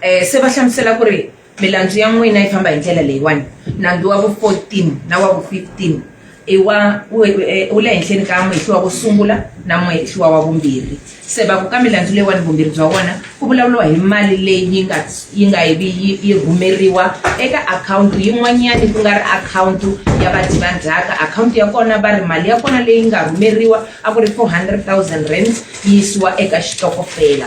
eh se va hlamusela ku ri milandzu ya n'wina yi famba hi ndlela leyiwani nandzu wa vu 14 na wa vu 15 i wa wu e, le henhleni ka muhehli wa ku sungula na muhehli wa wa vumbirhi se va ku ka milandzu leyiwani vumbirhi bya wona ku vulavuriwa hi mali leyi yi nga yi nga yi vi yi rhumeriwa eka akhawunti yin'wanyani ku nga ri akhawunti ya vadyi va ndzhaka akhawunti ya kona va ri mali ya kona leyi nga rhumeriwa a ku ri four hundred thousand rands yi yisiwa eka xitokofela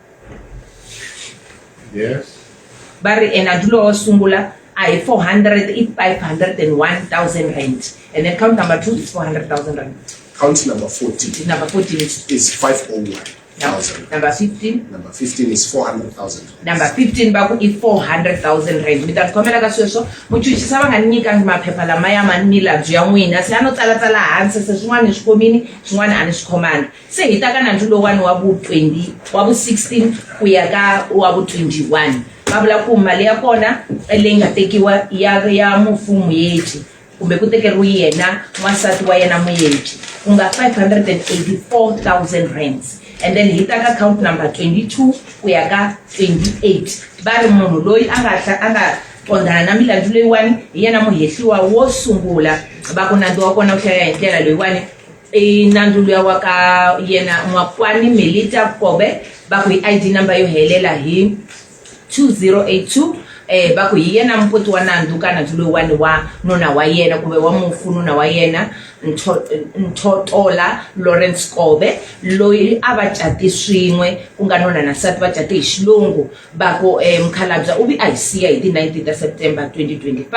yes va ri ena dulo wo sungula a hi 400 i 501000 rand and then count number 2 is 400000 rand count number 14 number 14 is, is 501 thousand. Number fifteen. Number fifteen is four hundred thousand. Number fifteen baku i four hundred thousand rand. Mi ta khomela ka sweswo muchuchisa va nga ni nyika maphepha lama ya ma ni labyi ya n'wina se a no tsalatsala hansi se swin'wana ni swi khomini swin'wana a ni swi khomanga. Se hi ta ka nandzu lowani wa vu 20 wa vu 16 ku ya ka wa vu 21 va vula ku mali ya kona leyi nga tekiwa ya ya mufu muyeji kumbe ku tekeriwe yena n'wansati wa yena muyeji ku nga 584000 rands and then hi ta ka count number 22 ku ya ka 28 va ri munhu loyi a nga a nga qondana na milandzu leyiwani hi yena muhehliwa wo sungula va ku nandzu wa kona wu hlayela hi ndlela leyiwani i nandzu luya wa ka yena n'wakwani melita kobe va ku hi id number yo helela hi 2082 um eh, va ku hi yena mupoti wa nandzu ka nandzu loyiwani wa nuna wa yena kumbe wa mufu nuna wa yena nthotola lawrence kobe loyi a va cati swin'we ku nga nuna na nsati va cate hi xilungu va ku um mukhalabya u vi a hi siya hi ti 19 ta september 2025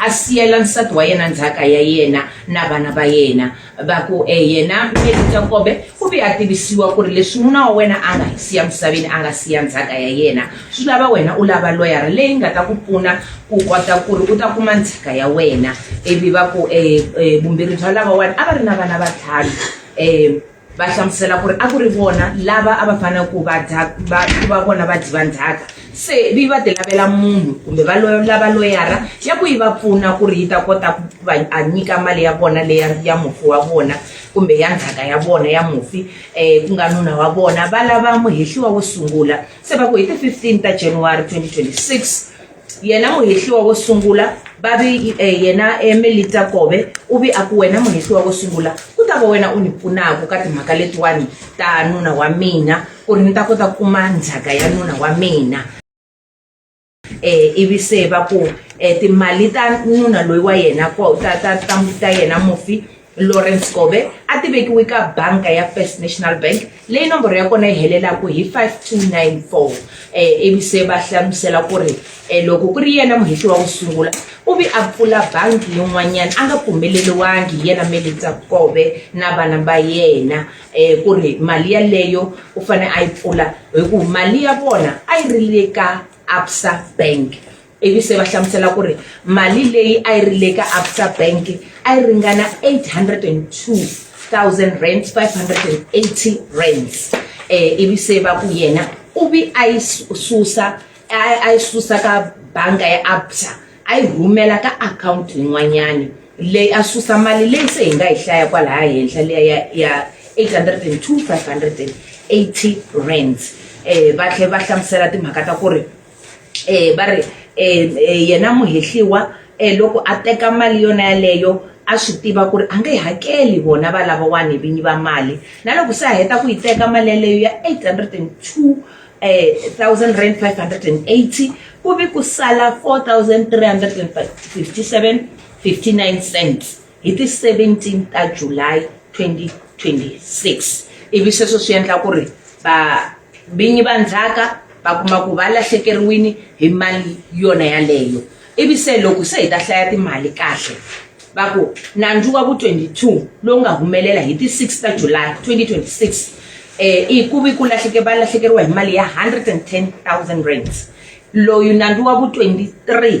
a siyela nsati wa yena ndzhaka ya yena na vana va yena va ku um yena meri jakobe u vi a tivisiwa ku ri leswi n'wina wa wena a nga hi siya misaveni a nga siya ndzhaka ya yena swi lava wena u lava loyara leyi nga ta ku pfuna ku kota ku ri u ta kuma ndzhaka ya wena ivi va ku um vumbirhi bya lavawani a va ri na vana vatlhanu um va hlamusela ku ri a ku ri vona lava a va fanele ku va ku va vona va dyi va ndzhaka se vi va ti lavela munhu kumbe va lava loyara ya ku yi va pfuna ku ri yi ta kota ku va a nyika mali ya vona leya ya mufi wa vona kumbe ya ndzhaka ya vona ya mufi um ku nga nuna wa vona va lava muhehliwa wo sungula se va ku hi ti-fifteen ta january 2026 yena muhehliwa wo sungula va vi eh, yena emelita eh, kobe u vi a ku wena muhehliwa wo sungula ku ta va wena u ni pfunaka ka timhaka letiwani ta nuna wa mina ku ri ni ta kota ku kuma ndzhaka ya nuna wa mina eh ivi se va ku eh, timali ta nuna loyi wa yena ta ta ta ta yena mufi Lawrence Kobe a ti vekiwe ka banka ya First National Bank leyi nomboro ya kona yi helelaka hi 5294 eh, ivi se va hlamusela ku ri eh, loko ku ri yena muhehli wa ku sungula u vi a pfula bangi yin'wanyana a nga pfumeleriwangi hi yena Melitsa Kobe na vana va yena um ku ri mali yaleyo u fanele a yi pfula hi ku mali ya vona a yi ri le ka absa bank ivi se va hlamusela ku ri mali leyi a yi ri le ka absa bank a yi ringana 802000 rand 580 rands um eh, ivi se va ku yena u vi a yi susa a yi susa ka banga ya absa a yi rhumela ka akhawunti yin'wanyani leyi a susa mali leyi se hi nga yi hlaya kwalaya henhla leya ya ya 802580 rands um eh, va tlhe va hlamusela timhaka ta ku ri va ri yena muhehliwa loko a teka mali yona yaleyo a swi tiva ku ri a nge yi hakeli vona va lavawani vinyi va mali na loko se a heta ku yi teka mali yaleyo ya eight hundred and two thousand rand five hundred and eighty ku ve ku sala four thousand three hundred and fifty seven fifty nine cents. hi ti 17 ta July 2026 ivi sweswo swi endla ku ri va vinyi va ndzhaka va kuma ku va lahlekeriwini hi mali yona yaleyo ivi se loko se hi ta hlaya timali kahle va ku nandzu wa vu-22 lowu nga humelela hi ti 6 ta July 2026 eh i ku vi ku lahleke va lahlekeriwa hi mali ya 110 000 rands loyu nandzu wa vu-23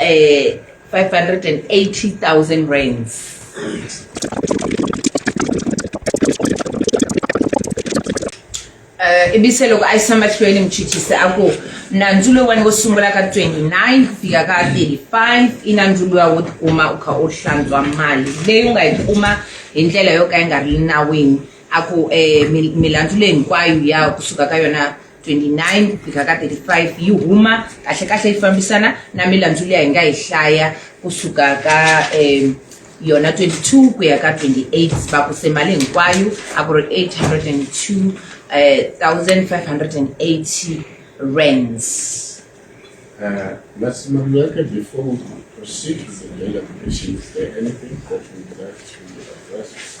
eh 580000 rands Uh, ibi se loko a yi samba hlweni muchuchisi a ku nandzu lowani wo sungula ka 29 ku fika ka 35 i nandzu luwa wo tikuma u kha u hlantswa mali leyi u nga yi kuma hi ndlela yo ka yi nga ri nawini a ku um milandzu leyi hinkwayo ya kusuka ka yona 29 ku fika ka 35 yi huma kahlekahle yi fambisana na milandzu leyi hi nga yi hlaya kusuka ka um yona 22 ku ya ka 28 va ku se mali hinkwayo a ku ri 802 eh, 1580 rands Uh, Ms. Mamlaka, before we proceed with the deliberation, is there anything that you'd like to address?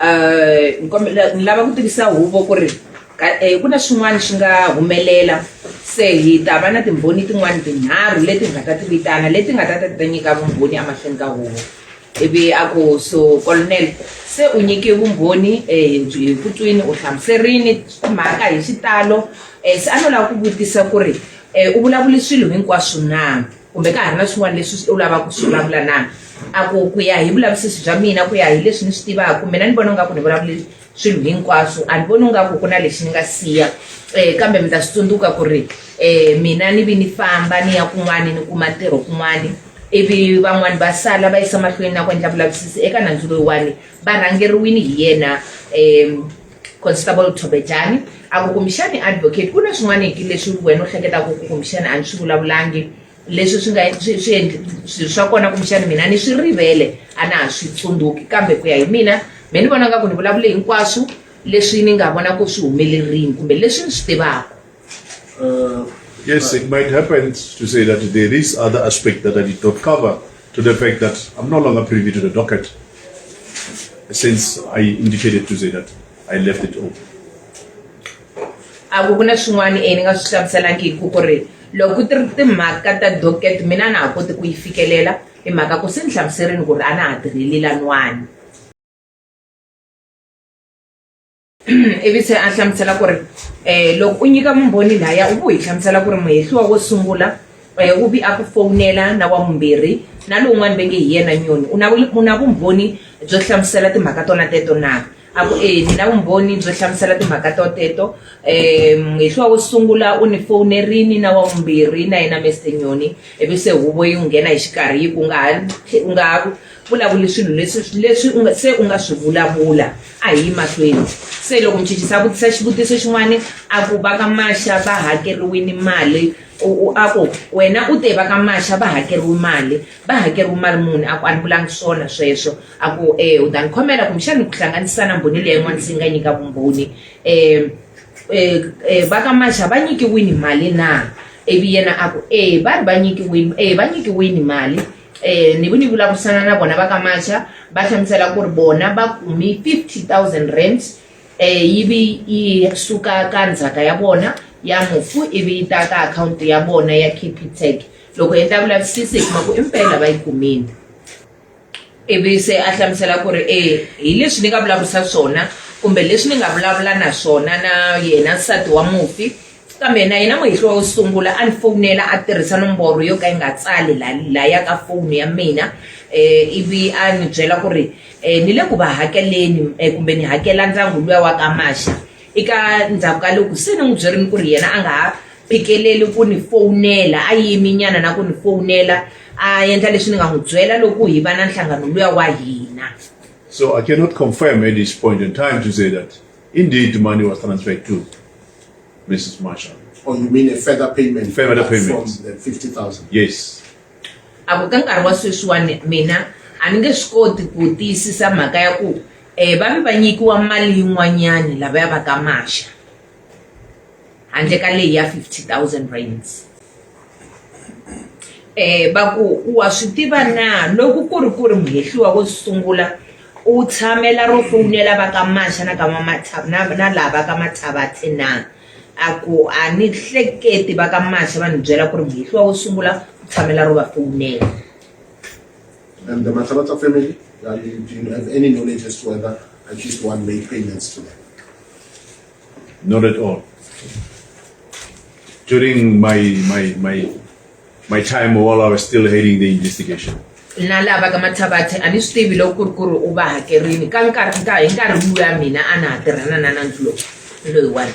eh, ni lava ku tivisa huvo ku ri eh, ku na xin'wana xi nga humelela se hi ta va na timbhoni tin'wana tinharhu leti hi nga ta ti vitana leti nga ta ta ta nyika vumbhoni emahlweni ka huvo ivi a ku so colonel se u nyike vumbhoni um hi ku twini u hlamuserini mhaka hi xitalo um se a no lava ku vutisa ku ri um u vulavule swilo hinkwaswo na kumbe ka ha ri na swin'wana leswi u lavaka ku swi vulavula na a ku ku ya hi vulavisisi bya mina ku ya hi leswi ni swi tivaka mina ni vona nga ku ni vulavule swilo hinkwaswo a ni voni nga ku ku na lexi ni nga siya um kambe mi ta swi tsundzuka ku ri um mina ni vi ni famba ni ya kun'wani ni kuma ntirho kun'wani ivi van'wani va sala va yisa mahlweni na ku endla vulavisisi eka nandzu loyiwani va rhangeriwini hi yena um constable thobejani a ku kumbexani advocate ku na swin'waneki leswi wena u hleketaka ku kumbexani a ni swi vulavulangi leswi swi nga swi swi endli swi swa kona kumbexani mina ni swi rivele a na ha swi tsundzuki kambe ku ya hi mina me ni vona nga ku ni vulavule hinkwaswo leswi ni nga vona ku swi humelerini kumbe leswi ni swi tivaka Uh, yes, it might happen to say that there is other aspect that I did not cover. to the fact that I'm no longer privy to the docket since I indicated to say that I left it open. a ku ku na swin'wana e ni nga swi hlamuselangiki ku ri loko ku ti ri timhaka ta docket mina na ha koti ku yi fikelela hi mhaka ku se ni hlamuserini ku ri a na ha tirheli lan'wana ivi se a hlamusela ku ri um loko u nyika mumbhoni laya u vu hi hlamusela ku ri muhehliwa wo sungula um u vi a ku fowunela na wa mumbirhi na lowun'wana ve nge hi yena nyoni u na u na vumbhoni byo hlamusela timhaka tona teto na a ku e ni na vumbhoni byo hlamusela timhaka to teto um muhehliwa wo sungula u ni fowunerini na wa vumbirhi na yena mester nyoni ivi se huvo yi n'wi nghena hi xikarhi yi ku nga ha u nga ha Vulavuli swilo leswi leswi u nga se u nga swi vulavula a hi yi mahlweni se loko muchichisi a vutisa xivutiso xin'wana a ku va ka maxa va hakeriwini mali a ku wena u te va ka maxa va hakeriwi mali va hakeriwi mali muni a ku a ni vulangi swona sweswo a ku um u ta ni khomela kumbexani ku hlanganisa na mbhoni leyi yin'wana se yi nga nyika vumbhoni um um va ka maxa va nyikiwini mali na ivi yena a ku e va ri va nyikiwini e va nyikiwini mali um ni ku ni vulavurisana na vona va ka macha va hlamusela ku ri vona va kumi 50 000 rand um yivi yi suka ka ndzhaka ya vona ya mufu ivi yi ta ka akhawunti ya vona ya capitec loko hi endla vulavisisi hi kuma ku impela va yi kumile ivi se a hlamusela ku ri e hi leswi ni nga vulavurisa swona kumbe leswi ni nga vulavula na swona na yena nsati wa mufi Kambe na yena muhehliwa wo sungula a ni fowunela a tirhisa nomboro yo ka yi nga tsali la la ya ka foni ya mina eh, ivi a ni byela ku ri eh, ni le ku va hakeleni eh, kumbe ni hakela ndyangu luya wa ka maxa eka ndzhaku ka loko se ni n'wi byerini ku ri yena a nga ha phikeleli ku ni fowunela a yimi nyana na ku ni fowunela a endla leswi ni nga n'wi byela loko hi va na nhlangano luya wa hina So I cannot confirm at this point in time to say that Indeed, the money was transferred to Mrs. Marshall. Or oh, you mean a further payment? Further payment. From the 50,000? Yes. avo ka nkarhi wa sweswiwani mina a ni nge swi koti ku tiyisisa mhaka ya ku um va ve va nyikiwa mali yin'wanyani lava ya va ka maxa handle ka leyi ya 50 000 rands va ku wa swi tiva na loko ku ri ku ri muhehliwa wo sungula u tshamela ro fowunela va ka mani xana ka na na laha va ka Mathabathe na a ku a ni hleketi va ka mani se va ni byela ku ri muhehliwa wo sungula u tshamela ro va fowunela and the Mathabatha family do you have any knowledge as to whether at least one made payments to them Not at all. During my my my my time while I was still heading the investigation. na lava ka mathavathe a ni swi tivi loko ku ri ku ri u va hakerini ka nkarhi ka hi nkarhi luya mina a na ha tirhana na nandzu lowu loyiwani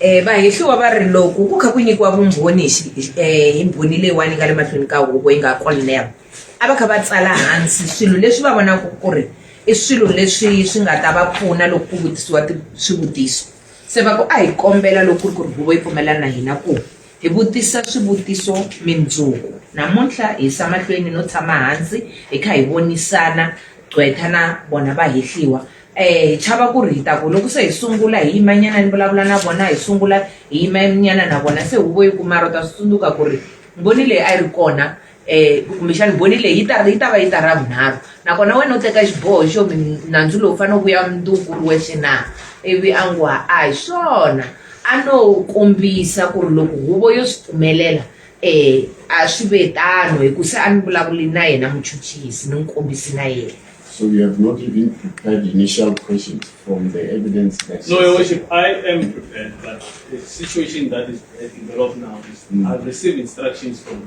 Um vahehliwa va ri loko ku kha ku nyikiwa vumbhoni um hi mbhoni leyiwani yi nga le mahlweni ka huvo yi nga Colonel a va kha va tsala hansi swilo leswi va vonaka ku ri i swilo leswi swi nga ta va pfuna loko ku vutisiwa swivutiso se va ku a hi kombela loko ku ri ku ri huvo yi pfumelana na hina ku Hi vutisa swivutiso mindzuku. Namuntlha hi yisa mahlweni no tshama hansi hi kha hi vonisana gqweta na vona vahehliwa. Eh, hi chava ku ri hi ta ku loko se hi sungula hi yimanyana ni vulavula na vona, hi sungula hi yimanyana na vona se huvo yi ku mara u ta swi tsundzuka ku ri Mbhoni leyi a yi ri kona um kumbexana boni leyi yi ta yi ta va yi ta ra vunharhu nakona wena u teka xiboho xo nandzu lowu fanele ku ya mundzuku ri wexe na ivi a ngo a hi swona a no kombisa ku ri loko huvo yo swi pfumelela um a swi ve tano hi ku se a ni vulavuli na yena muchuchisi ni n'wi kombisi na yena So you have not even prepared initial questions from the evidence that. No, Your Worship, I am prepared, but the situation that is developed now is mm. I've received instructions from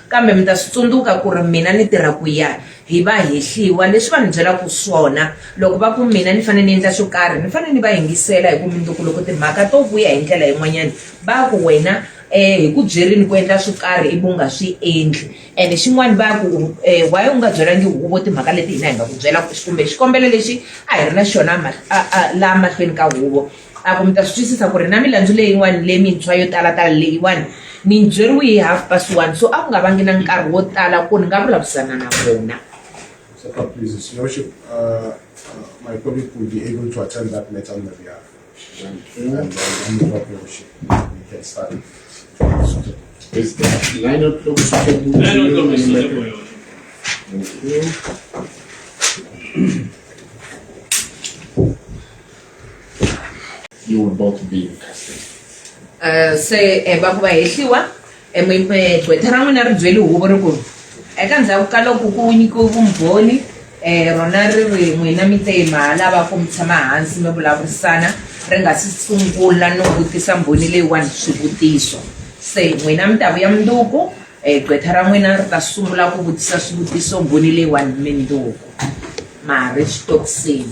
Kambe mi ta swi tsundzuka ku ri mina ni tirha ku ya hi vahehliwa. Leswi va ni byelaka swona, loko va ku mina ni fanele ni endla swo karhi, ni fanele ni va yingisela, hikuva mundzuku loko timhaka to vuya hi ndlela yin'wanyana, va ku, Wena hi ku byerile ku endla swo karhi ivi u nga swi endli. Ene xin'wana va ku, Why u nga byelangi huvo timhaka leti hina hi nga ku byela kumbe xikombelo lexi a hi ri na xona laha mahlweni ka huvo? A ku mi ta swi twisisa ku ri na milandzu leyin'wana lemintshwa yo talatala leyiwani ni yi byeriwe hi half past one so a ku nga vangi na nkarhi wo tala ku ni nga vulavurisana na vona my colleague will be able to attend that matter on the behalf. And then I'm not going to ship. We can start. Is the nine o'clock suitable? Nine o'clock is suitable. Thank you. You will both be in custody. Eh, se eh, va ku va hehliwa eh, mi- eh, gqwetha ra n'wina ri byele huvo ri ku eka ndzhaku ka loko ku nyikiwe vumbhoni um rona ri ri n'wina mi te ma lava ku mi tshama hansi mi vulavurisana ri nga si sungula no vutisa mbhoni leyiwani swivutiso se n'wina mi ta vuya mundzuku um gqwetha ra n'wina ri ta sungula ku vutisa swivutiso mbhoni leyiwani mundzuku mari swi tokisini